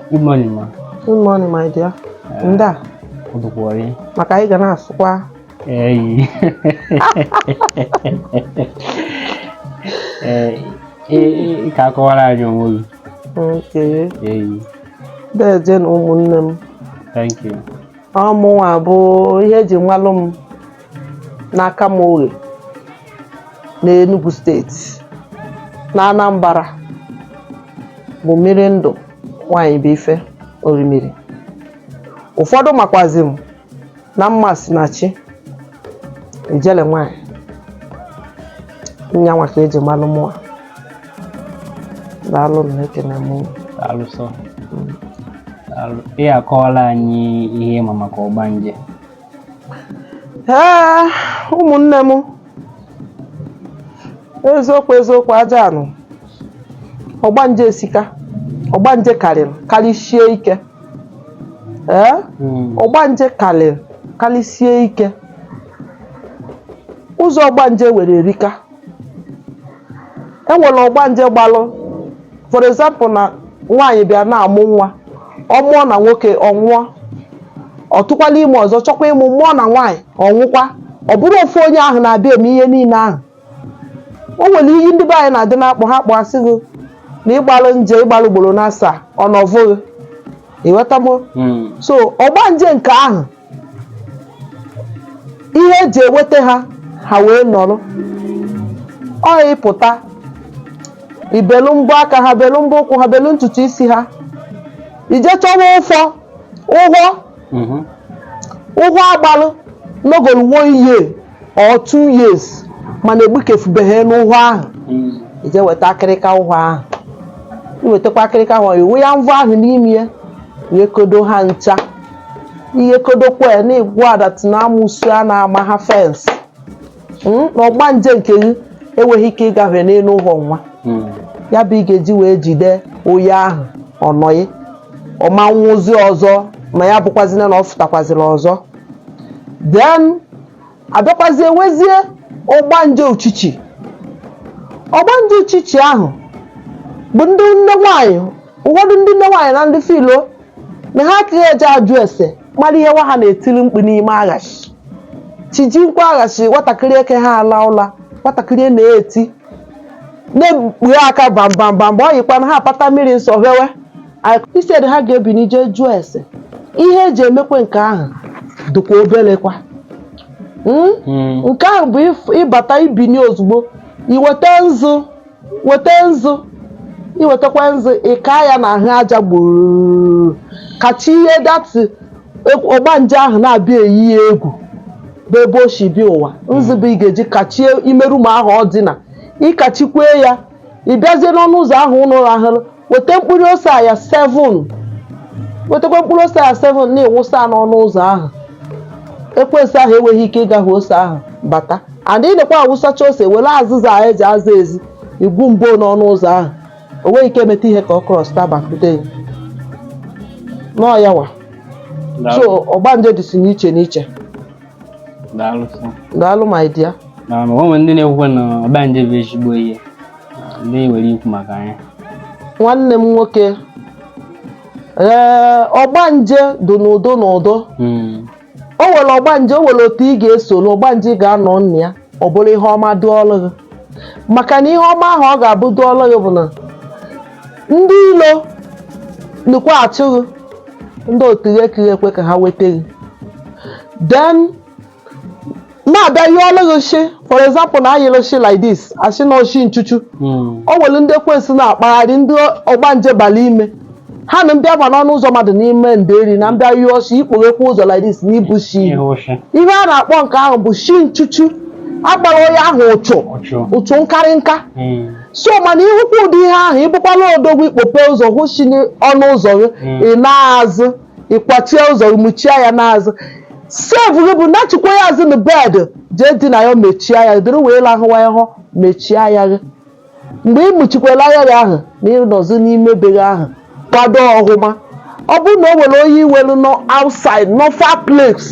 Good morning, ma. Good morning, my dear. Nda. Odukwari. Maka anyị ga na-asụkwa. Eyi. Ee, ka akọwara anyị onwe gị. Okay. Eyi. Deje nụ ụmụnne m. Thank you. Ọ mụnwa bụ ihe eji malụ m. n'Akama Oghe na Enugu steeti na Anambra bụ mmiri ndụ nwanyị bụ ife orimiri ụfọdụ makwazi m na Mmasinachi ijele nwanyị nyanwa ka eji malụ mụa daalụ nụ ekene m unu. Daalụ sọ. Daalụ. Ị akọwala anyị ihe ịma maka ọgbanje ee ụmụnne m eziokwu eziokwu aja anụ ọgbanje esika ọgbanje karịrị karịsie ike ee Mm. ọgbanje karịrị karịsie ike ụzọ ọgbanje nwere erika e nwere ọgbanje gbalụ for example na nwaanyị bịa na-amụ nwa ọ mụọ na nwoke ọ nwụọ ọ tụkwala ime ọzọ chọkwa ịmụ mụọ na nwaanyị ọ nwụkwa ọ bụrụ ofu onye ahụ na-abịa eme ihe niile ahụ o nwere ihe ndị be anyị na-adị na-akpọ ha kpọ a sị gị na ị gbalụ nje ị gbalụ ugboro na asaa ọ nọvụghị ị ghọta m Mm. so ọgbanje nke ahụ ihe eji eweta ha ha wee nọrọ ọ ịpụta i belu mbọ aka ha belu mbọ ụkwụ ha belu ntutu isi ha i je chọwa ụfọ ụhọ ụhọ agbalụ nọgolu one year or two years mana egbukefubeghị n'ụhọ ahụ i je weta akịrịka ụhọ ahụ i wetakwa akịrịka ahụ ị wụya mvọ ahụ n'ime ya wee kodo ha ncha i wee kodokwa ya na-egwu adat na amosu a na-ama ha fensị Mm, na ọgbanje nke gị enweghị ike ịgafe n'elu ụhọ nwa ya bụ ị ga-eji wee jide onye ahụ ọ nọghị ọ ma nwụzi ọzọ ma ya bụkwazina na ọ fụtakwazịrị ọzọ then a bịakwazie nwezie ọgbanje uchichi ọgbanje uchichi ahụ bụ ndị nne nwaanyị ụfọdụ ndị nne nwaanyị na ndị filo na ha akaghị eje ajụ ese mara ihe nwa ha na-etiri mkpu n'ime aghashị chi ji nkwa aghashị nwatakịrị eke ha ala ụla nwatakịrị na-eti na-ekpughe aka bambambamba ọ yikwa na ha apata mmiri nsọ fewe Instead ha ga-ebini jee jụọ ese ihe eji emekwe nke ahụ dịkwa obelekwa Mm? Mm. nke ahụ bụ if- ịbata ibini ozugbo i weta nzu weta nzu i wetakwa nzu ị kaa ya na ahụ aja gburu kachie ya dati ọgbanje ahụ na-abịa eyi ya egwu bụ ebe o si bịa ụwa nzu bụ ị ga-eji kachie ime room ahụ ọ dị na ị kachikwee ya ị bịazie n'ọnụ ụzọ ahụ unu rahụrụ weta mkpụrụ ose a 7 wetakwa mkpụrụ ose a 7 na-ewụsa n'ọnụ ụzọ ahụ ekwensu ahụ enweghị ike ịgafe ose ahụ bata and ị na-ekwe awụsacha ose were azịza a eji aza ezi igwu mbo n'ọnụ ụzọ ahụ o nweghị ike emeta ihe ka ọ krọsta bakwude ya nọọ ya wa so ọgbanje dịsi n'iche n'iche daalụ sọ daalụ my dear na o nwe ndị na-ekwukwe na ọgbanje bụ ezigbo ihe ndị nwere ikwu maka ya nwanne m nwoke ee ọgbanje dị n'ụdị n'ụdị Mm, o nwere ọgbanje o nwere otu ị ga-esoro ọgbanje ị ga-anọ na ya ọ bụrụ ihe ọma dịịrị gị maka na ihe ọma ahụ ọ ga-abụ dịịrị gị bụ na ndị ilo nọkwa achụ gị ndị otu gị ekiri ekwe ka ha weta gị den na-abịa nyụọlụ gị nshị for example na anyụlụ nshị like this asị na ọ nshị nchuchu Mm. o nwere ndị ekwensu na-akpagharị ndị ọgbanje bala ime ha na-abịa n'ọnụ ụzọ mmadụ n'ime nderi na-abịa nyụọ nshị i kpoghekwa ụzọ like this na ị hụ nshị Ihe ụshị. ihe a na-akpọ nke ahụ bụ nshị nchuchu agbara onye ahụ uchu Uchu. uchu nkarị nka Mm. so mana ị hụkwa ụdị ihe ahụ ị bụkwanụ odogwu i kpope ụzọ hụ nshị n'ọnụ ụzọ gị Mm. ị naa azụ ị kwachie ụzọ i mechie ya n'azụ sef gị bụ nachikwa ya azụ na bed jee dina ya mechie anya gị dịrị wee lahụwa ya bụ mechie anya gị mgbe ị mụchikwara anya gị ahụ na ị nọzi n'ime be gị ahụ kwado ọhụma ọ bụrụ na o nwere onye i nwelu nọ outside nọ far place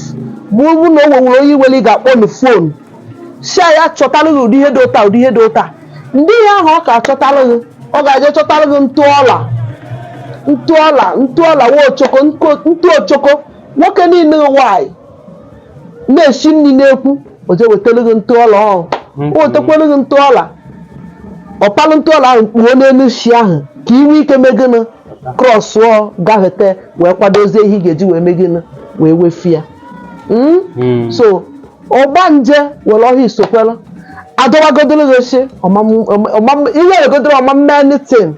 ma ọ bụrụ na o nwere onye i nwelu ị ga-akpọ na fon shị ya chọtara gị ụdị ihe dị otu a ụdị ihe dị otu a ndị ihe ahụ ọ ga-achọtara gị ọ ga-eje chọtara gị ntụ ọla ntụ ọla ntụ ọla nwa ochoko nko- ntụ ochoko nwoke na nwanyị na-esi nri n'ekwu o je wetara gị ntụ ọla ahụ o wetakwara gị ntụ ọla ọ palụ ntụ ọla ahụ kpuo n'elu nshị ahụ ka ị nwee ike mee gịnị krọsụọ gafete wee kwadozie ihe ị ga-eji wee mee gịnị wee wefu ya Mm? Mm. so ọgbanje were ọhịa isokwere adọwagodoro gị oche ihe eregodoro ọma anything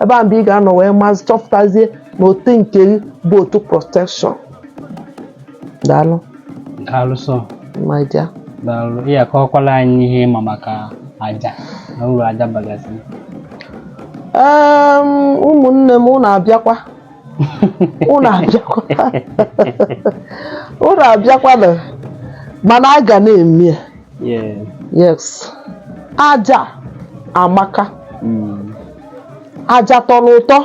ebe a mgbe ị ga-anọ wee mazị chọpụtazie na otu nke gị bụ otu protection daalụ daalụ sọ my dear daalụ ị akọwakwala anyị ihe ị ma maka aja na uru aja bagasị Em, ụmụnne m unu abịakwa unu abịakwana mana a ga na-eme ya yes aja amaka hmm. aja tọrọ ụtọ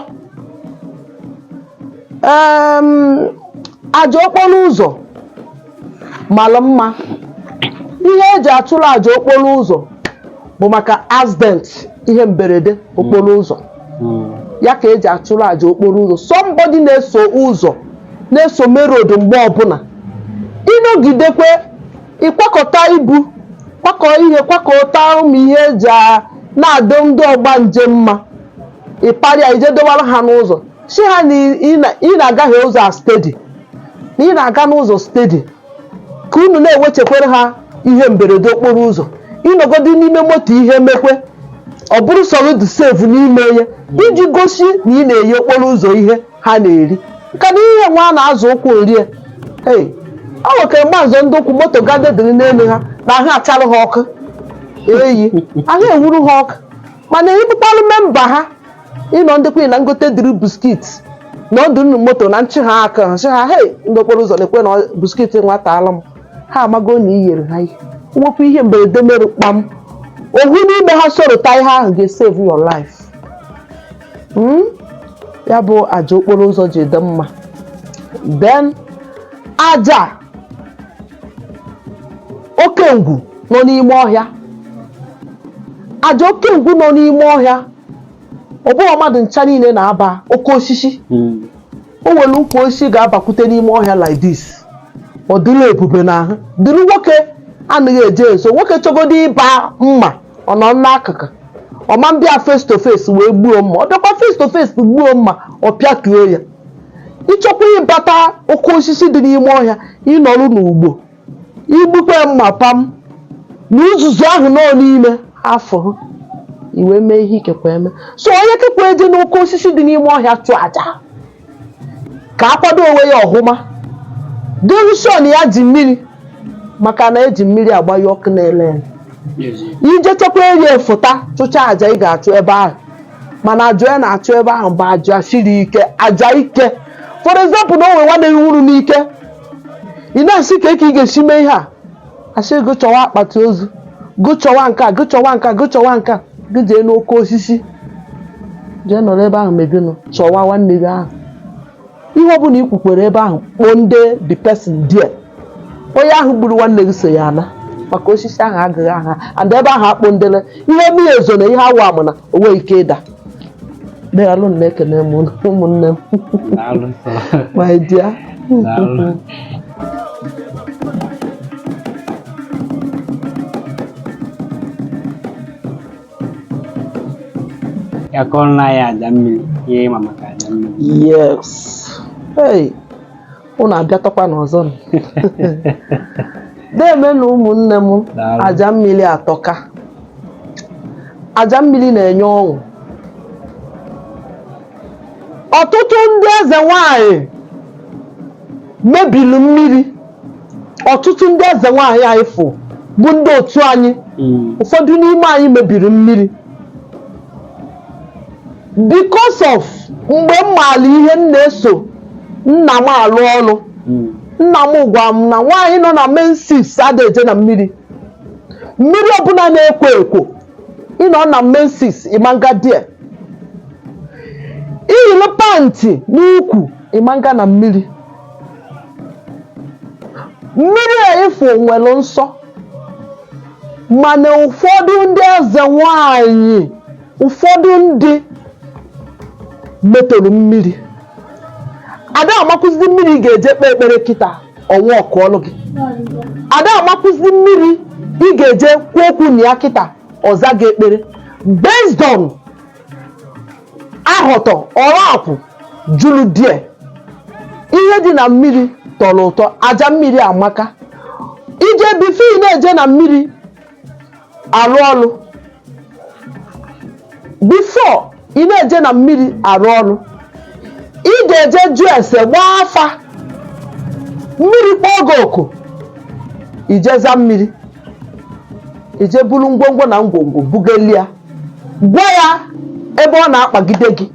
aja okporo ụzọ mara mma ihe eji achụrụ aja okporo ụzọ bụ maka accident ihe mberede okporo ụzọ ya ka eji achụrụ aja okporo ụzọ somebody na-eso ụzọ na-eso main road mgbe ọbụla ị nọgidekwe ị kwakọta ibu kwakọ ihe kwakọta ụmụ ihe eji a- na-adọ ndị ọgbanje mma ị para ya i je dọwara ha n'ụzọ sị ha na ị na- ị na-agahie ụzọ a steady na ị na-aga n'ụzọ steady ka unu na-ewechekwere ha ihe mberede okporo ụzọ ị nọgodi n'ime moto ihe mekwe ọ bụrụ sọrọ dị safe n'ime ya iji gosi na ị na-enye okporo ụzọ ihe ha na-eri ka na ihe nwa a na-azụ ụkwụ rie ee o nwekere mgbanzọ ndị ụkwụ moto gadedịrị n'elu ha na ahụ achara ha ọkụ eyi ahụ ewuru ha ọkụ mana ị bụkwanụ member ha ị nọ ndị kwunye na ngote dịrị biscuit na ọdụ nnu moto na nchị ha aka nchị ha hei ndị okporo ụzọ na-ekwe na biscuit nwa ataala m ha amago na i yere ha ihe nwekwu ihe mberede mere kpam ohu n'ime ha sorota ihe ahụ ga-esave your life Hmm? ya bụ aja okporo ụzọ ji dị mma then aja oke ngwu nọ n'ime ọhịa aja oke ngwu nọ n'ime ọhịa ọ bụghị mmadụ ncha niile na-aba oke osisi hmm. o nwere ukwu osisi ga-abakwute n'ime ọhịa like this ọ dịrị ebube n'ahụ dịrị nwoke anaghị eje nso nwoke chọgodo ịba mma ọ nọ n'akụkụ ọ ma bịa face to face wee gbuo mma ọ bịakwa face to face gbuo mma ọ pịatuo ya ị chọkwa ịbata oke osisi dị n'ime ọhịa ị nọrụ n'ugbo i gbukwe mma pam na uzuzu ahụ nọ n'ime afọ ha i wee mee ihe i kekwa eme so onye kekwa eje n'oke osisi dị n'ime ọhịa chụọ aja ka akwado onwe ya ọhụma derushon ya ji mmiri maka na eji mmiri agbanyụ ọkụ na-ele ele ije chekwa eri efụta chụcha aja ị ga-achụ ebe ahụ mana aja ya na-achụ ebe ahụ bụ aja siri ike aja ike for example na o nwere nwanne gị nwụrụ n'ike ị na-asị kee ka ị ga-esi mee ihe a asị gị chọwa akpati ozu gị chọwa nke a gị chọwa nke a gị chọwa nke a gị jee n'oke osisi jee nọrọ ebe ahụ mee gịnị chọwa nwanne gị ahụ ihe ọ bụla ị kwukwara ebe ahụ kpọọ ndị the person there onye ahụ gburu nwanne gị so ya ana maka osisi ahụ agaghị aha and ebe ahụ akpụ ndịle ihe mmiri ezo na ihe awụ amụ na o nweghị ike ịda daalụnụ ekene m ụmụnne m my dear ya kọọrọ anyị aja mmiri ihe ị ma maka aja mmiri yes hey unu abịatakwana ọzọ nụ. deemenụ ụmụnne m Daalụ. aja mmiri atọka aja mmiri na-enye ọṅụ ọtụtụ ndị eze nwanyị mebiri mmiri ọtụtụ ndị eze nwanyị a ị fụ bụ ndị otu anyị Mm. ụfọdụ n'ime anyị mebiri mmiri because of mgbe m maara ihe m na-eso nna m alụ ọrụ nna m gwara m na nwaanyị nọ na menses ada eje na mmiri mmiri ọbụla na-ekwo ekwo ị nọ na menses ị ma na-aga there i yiri pantị n'ukwu ị ma na-aga na mmiri mmiri a ị fụ nwere nsọ mana ụfọdụ ndị eze nwanyị ụfọdụ ndị metọrọ mmiri ada amakwụzi mmiri ị ga-eje kpee ekpere kịta ọ workụọlụ gị ada amakwụzi mmiri ị ga-eje kwuo okwu na ya kịta ọ zaa gị ekpere based on ahọtọ ọrụ akwụ juru there ihe dị na mmiri tọrọ ụtọ aja mmiri amaka i jee before ị na-eje na mmiri arụ ọrụ before ị na-eje na mmiri arụ ọrụ ị ga-eje jụọ ese gbaa afa mmiri kpọọ gị oku i jee zaa mmiri i jee buru ngwongwo na ngwongwo bugeli ya gwa ya ebe ọ na-akpagide gị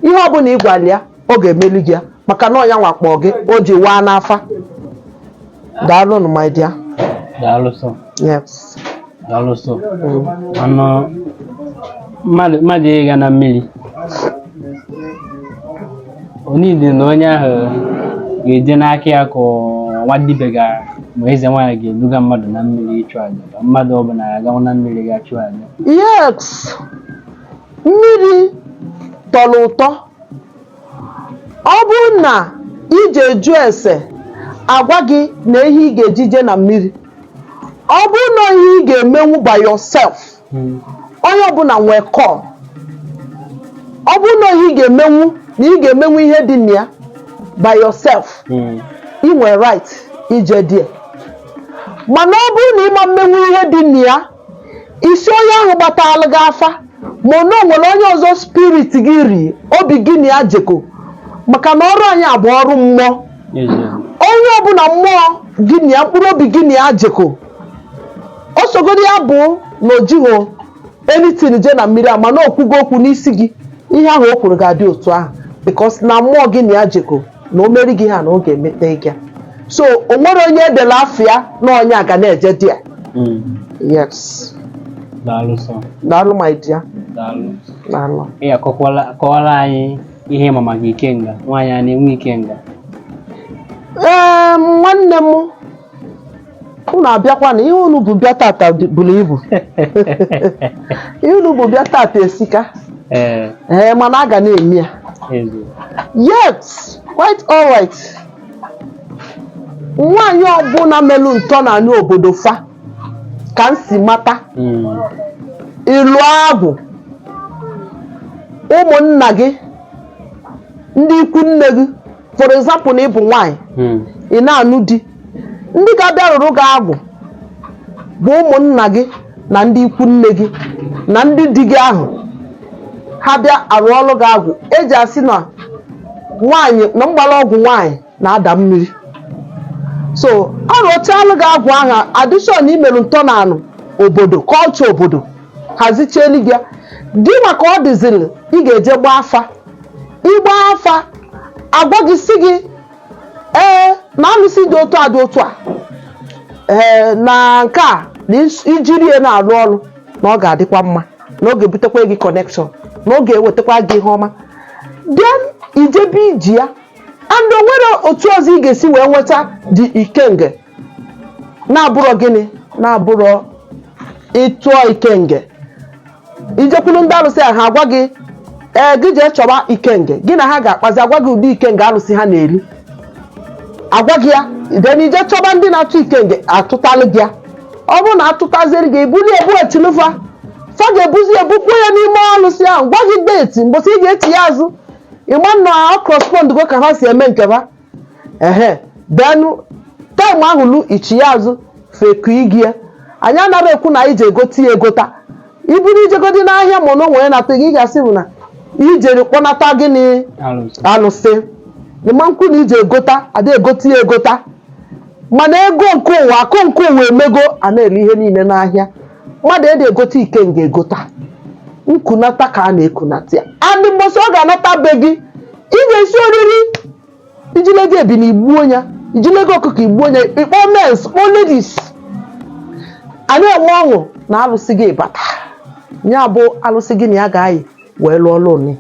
ihe ọbụla ị gwara ya ọ ga-emeli gị ya maka na ọ ya nwa kpọ gị o ji waa n'afa daalụnụ my dear daalụ sọ yes daalụ sọ ọnụ mmadụ mmadụ ịga na mmiri ọ needi na onye ahụ ga-eje n'aka ya ka ọ wụ dibịa ga ma eze nwaanyị ga-eduga mmadụ na mmiri ịchụ aja ka mmadụ ọbụla ga-agawa na mmiri gaa chụọ aja yes mmiri tọrọ ụtọ ọ bụrụ na i jee jụọ ese a gwa gị na ihe ị ga-eji jee na mmiri ọ bụrụ na ihe ị ga-emenwu by yourself onye ọbụla nwee call ọ bụrụ na ihe ị ga-emenwu na ị ga-emenwu ihe dị na ya by yourself ị nwere right ije there mana ọ bụrụ na ị ma mmenwu ihe dị na ya isi onye ahụ gbatalụ gị afa ma ọ na o nwere onye ọzọ spirit gị ri obi gị na ya jekọ maka na ọrụ anyị a bụ ọrụ mmụọ onye ọbụla mmụọ gị na ya mkpụrụ obi gị na ya jekọ ọ sọgodu ya bụ na o jighị anything je na mmiri a mana o kwugo okwu n'isi gị ihe ahụ o kwuru ga-adị otu ahụ because na mmụọ gị na ya jekọ na o meri gị ihe na ọ ga-emete gị ya. so o nwere onye e dere afa ya na onye a ga na-eje there Mm. yes daalụ sọ daalụ my dear daalụ daalụ ị akọkwala kọwara anyị ihe ị ma maka ikenga nwaanyị a na-enwe ikenga ee nwanne m unu abịakwa na ihe unu bu bịa tata dị- buru ibu ihe unu bu bịa tata esika Ee, ee mana a ga na-eme ya ezi. yet quite alright nwaanyị ọbụla melụ ntọ na anị obodo fa ka m si mata Mm, ịlụ agwụ ụmụnna gị ndị ikwu nne gị for example na ị bụ nwaanyị hmm. ị na-anụ di ndị ga-abịa rụrụ gị agwụ bụ ụmụnna gị na ndị ikwu nne gị na ndị di gị ahụ ha bịa arụọrọ gị agwụ eji asị na nwaanyị na mgbara ọgwụ nwaanyị na-ada mmiri so arụchalụ gị agwụ ahụ tradition i merụ ntọnanị obodo culture obodo hazichielu gị gị ma ka ọ dịzịrị ị ga-eje gbaa afa ị gbaa afa a gwa gị sị gị ee na alụsị dị otu a dị otu a ee na nke a na is- i jiri ya na-arụ ọrụ na ọ ga-adịkwa mma na ọ ga-ebutekwa gị connection na ọ ga-ewetakwa gị ihe ọma then i jebe iji ya and o nwere otu ọzọ ị ga-esi wee nweta the ikenge na-abụrọ gịnị na-abụrọ ịtụọ ikenge i jekwulu ndị alụsị a ha agwa gị ee gị jee chọba ikenge gị na ha ga-akpazi agwa gị ụdị ikenge alụsị ha na-eri agwa gị ya then i jee chọba ndị na-atụ ikenge atụtalụ gị ya ọ bụrụ na atụtaziri gị i bulie butelu fa fa ga-ebuzi ebukwa ya n'ime alụsị ahụ gwa gị date mbọsị ị ga-eti ya azụ ị ma na ọ correspondgo ka ha si eme nke ha ehe then taịm ahụ lu ichi ya azụ feku igie anyị anara ekwu na i je egote ya egota even i jegodi n'ahịa ma na onwere nata gị ga-asị bụ na i jere kpọnata gịnị Alụsị. alụsị ị ma-ekwu na i je egota ada egota ya egota mana ego nke ụwa akụ nke ụwa emego a na-ere ihe niile n'ahịa mmadụ ada egote ikenga egota nkunata ka a na-ekunata ya and mbọsị ọ ga-anata be gị ị ga-esi oriri ijilego ebunu igbuo ya ijilego ọkụkọ igbuo ya ịkpọ mens kpọ ladies a na-enwe ọṅụ na alụsị gị bata ya bụ alụsị gị na ya ga-ayị wee lụọ lụni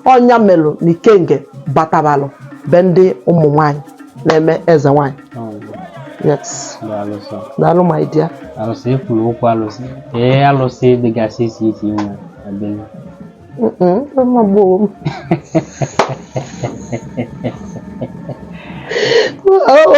ọ nya melụ na ikenga batabalụ be ndị ụmụ nwanyị na-eme eze nwanyị yes alụsị daalụ my dear alụsị ekwuru okwu alụsị ee alụsị dịgasị isi isi inwe ebe Mm-mm, mma gboo m. Oh.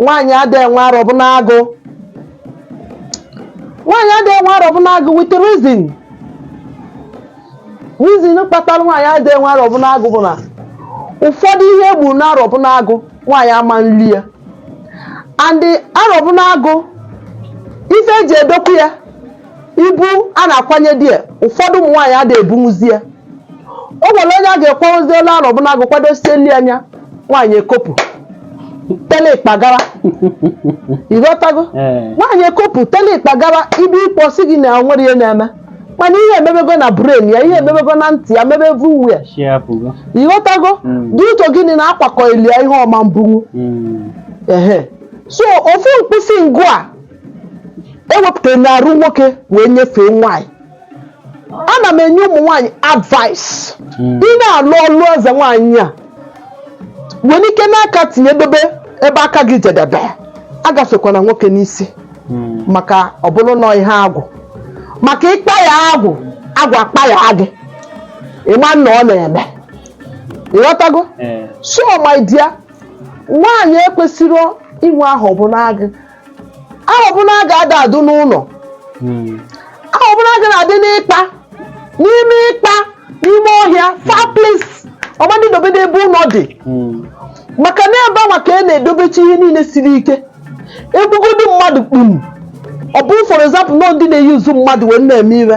nwaanyị ada enwe Arọbinagụ nwaanyị ada enwe Arọbinagụ with reason reason kpatara nwaanyị ada enwe Arọbinagụ bụ na ụfọdụ ihe e gburu na Arọbinagụ nwaanyị ama-eri ya and Arọbinagụ ife e ji edokwu ya ibu a na-akwanye di ya ụfọdụ ụmụ nwaanyị ada ebunwuzi ya o nwere onye a ga-ekwenwezi olu Arọbinagụ kwadosie nri anya nwaanyị ekopụ tele ịkpagara ịghọtago Ee. nwaanyị ekopụ tele ịkpagara ibe ịkpọ si gị na nwere ihe na-eme mana ihe emebego na brain ya ihe emebego na ntị ya mebe everywhere Chi apụgo. ịghọtago Mm. dị ụtọ gịnị na akwakọ ilia ihe ọ ma-ebunwu Mm. ehe so ofu mkpịsị ngụ a ewepụtara n'arụ nwoke wee nyefee nwaanyị ana m enye ụmụ nwaanyị advice ị na-alụ ọlụ eze nwaanyị a nwere ike n'aka tinyedebe ebe aka gị jedebe agafekwana nwoke n'isi maka ọ bụrụ na ihe agwụ maka ịkpa ya agwụ agwụ akpa ya gị ịma na ọ na-eme ịghọtago so my dear nwaanyị ekwesịrị inwe Arọbinagụ Arọbinagụ ada adụ n'ụlọ Arọbinagụ na-adị n'ikpa n'ime ikpa n'ime ọhịa far place ọ ma-adị dobe n'ebe ụlọ dị maka na ebe anwa ka a na-edobecha ihe niile siri ike egbugodi mmadụ kpum ọ bụ for example na ndị na-use mmadụ wee na-eme ire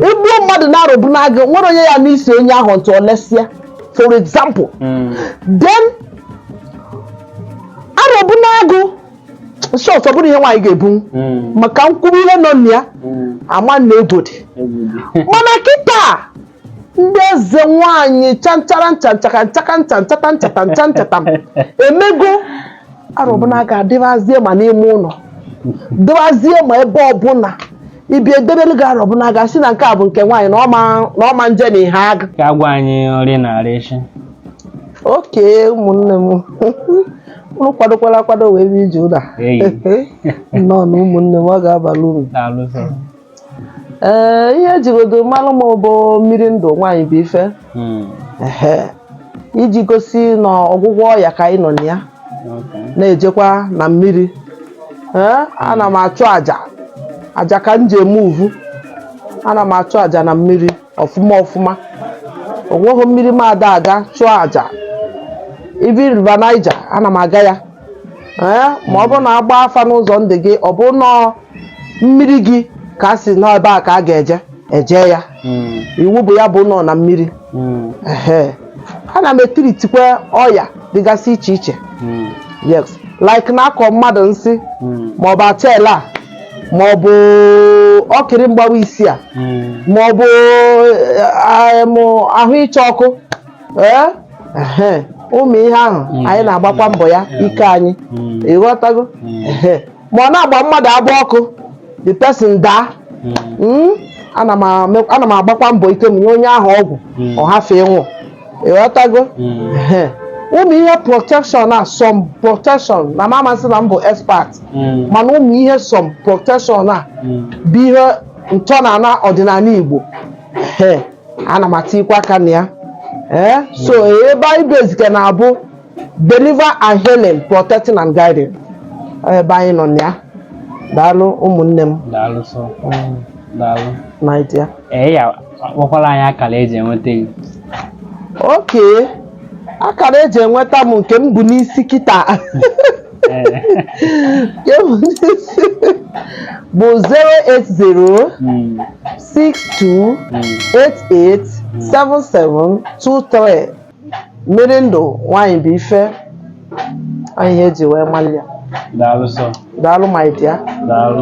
egbuo mmadụ na Arọbinagụ were nye ya n'isi onye ahụ ntụ olesịa for example then arọbụ n'agụ short ọ bụrụ ihe nwaanyị ga-ebu maka nkwuru ihe nọ na ya ama na egwu dị mana kịta ndị eze nwaanyị chanchara nchaka nchata emego arọbụ n'agụ adịbazie ma n'ime ụlọ dịbazie ma ebe ọbụla ibi edebere gị arọbụ n'agụ asị na nke a bụ nke nwaanyị na ọma nje na ihe agụ Ka agwa anyị nri na-arị isi. okay ụmụnne m unu kwadokwala akwado wee bịa ije ụlọ a. Eyi. nnọọ na ụmụnne m ọ ga-abala uru Daalụ sọ. ee ihe ejigodo malụ m bụ mmiri ndụ nwaanyị bụ ife Hmm. ehe iji gosi na ọgwụgwọ ọya ka anyị nọ na ya Okay. na-ejekwa na mmiri ee ana m achụ aja aja ka m ji eme uvu ana m achụ aja na mmiri ọfụma ọfụma onweghị mmiri m ada aga chụọ aja even River Niger ana m aga ya ee ma ọ bụrụ na agba afa n'ụzọ ndị gị ọ bụ nọọ mmiri gị ka a sị na ebe a ka a ga-eje eje ya Mm, iwu bụ ya bụ nọ na mmiri mm, ehe ana m etiritikwa ọya dịgasị iche iche mm, yes like na-akọ mmadụ nsi mm. maọbụ achaere ma ọ bụ okiri mgbawa isi a Mm. ma ọ bụ eh, em, ahụ ịcha ọkụ ee ehe, ụmụ ihe ahụ Mm. anyị na-agbakwa mbọ ya Mm. ike anyị Mm. ịghọtago Mm. Ehe. ma ọ na-agba mmadụ abụ ọkụ the person daa Mm. Mm, ana m ame- ana m agbakwa mbọ ike m nye onye ahụ ọgwụ Mm. ọ hafụ ịnwụ ịghọtago Ehe. ụmụ ihe protection a some protection na m ama sị na m bụ expert mana ụmụ ihe some protection a bụ ihe ntọ na ana ọdịnanị igbo Ehe. ana m atikwa aka na ya Ee, so ebe anyị bezike na-abụ deliver and healing protecting and guiding Ọ ebe anyị nọ na ya daalụ ụmụnne m daalụ sọ Mm, daalụ my dear ee ya akpọkwala anyị akara eji enweta gị okay akara eji enweta m nke m bu n'isi kịta Ee. bụ 080 Mm, 62 mm. 88 77 23 mmiri ndụ nwaanyị bụ ife ọ ihe eji wee malụ ya daalụ sọ daalụ my dear daalụ